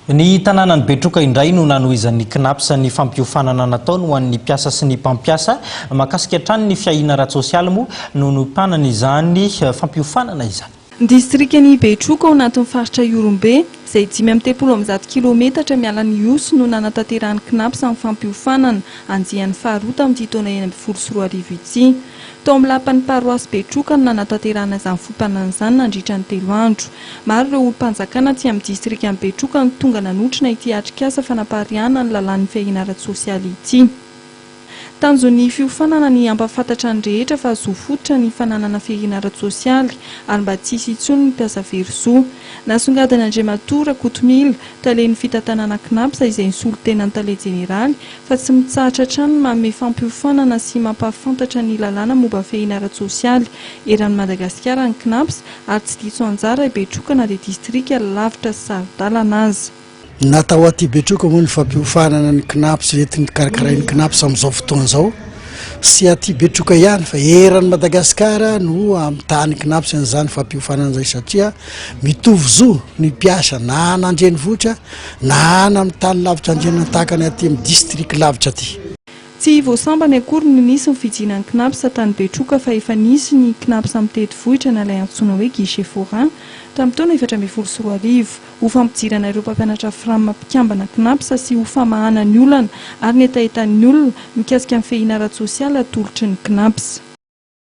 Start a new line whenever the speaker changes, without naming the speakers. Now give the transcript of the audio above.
Ny tanànan'i Betroka indray no nanohizan'ny Cnaps ny fampiofanana nataony ho an'ny mpiasa sy ny mpampiasa. Mahakasika hatrany ny fiahiana ara-tsosialy moa no niompanana izany fampiofanana izany. Ny distrikan'i
Betroka ao anatin'ny faritra Ihorombe, izay dimy amby telopolo amby zato kilaometatra miala an'Ihosy no nanatanterahan'ny Cnaps ny fampiofanana andiany faharoa tamin'ity taona enina ambin'ny folo sy roa arivo ity. Tao amin'ny lapan'ny paroasy Betroka no nanatanterahana izany foha-panana izany nandritra ny telo andro. Maro ireo olom-panjakana aty amin'ny distrikan'i Betroka no tonga nanotrona ity atrikasa fanapariahana ny lalàn'ny fiahiana ara-tsosialy ity. Tanjon'ny fiofanana ny hampahafantatra ny rehetra fa zo fototra ny fananana fiahiana ara-tsosialy ary mba tsy hisy intsony ny mpiasa very zo. Nasongadin'Andriamatoa Rakotomila, talen'ny fitantanana Cnaps izay nisolo tena ny tale jeneraly, fa tsy mitsahatra hatrany ny manome fampiofanana sy mampahafantatra ny lalàna momba fehiny ara-tsosialy eran'i Madagasikara ny Cnaps ary tsy diso anjara i Betroka na dia distrika lavitra sy saro-dalana aza. Natao aty
Betroka moa ny fampiofanana ny Cnaps entin'ny karakarain'ny Cnaps amin'izao fotoana izao sy aty Betroka ihany fa eran'i Madagasikara no amitahan'ny Cnaps an'izany fampiofanana izany satria mitovy zo ny mpiasa na an'andrenivohitra Na ana amin'ny tany lavitra andriana tahaka ny aty amin'ny district lavitra aty. Tsy vao
sambany akory no nisy ny fijinan'ny Cnaps tany Betroka fa efa nisy ny Cnaps amin'ny tetivohitra na ilay antsoina hoe guichet forain tamin'ny taona efatra ambin'ny folo sy roa arivo ho fampijirana ireo mpampianatra fram mpikambana Cnaps sy ho famahana ny olana ary ny hetahetan'ny olona mikasika ny fehina ara-tsosialy atolotry ny Cnaps.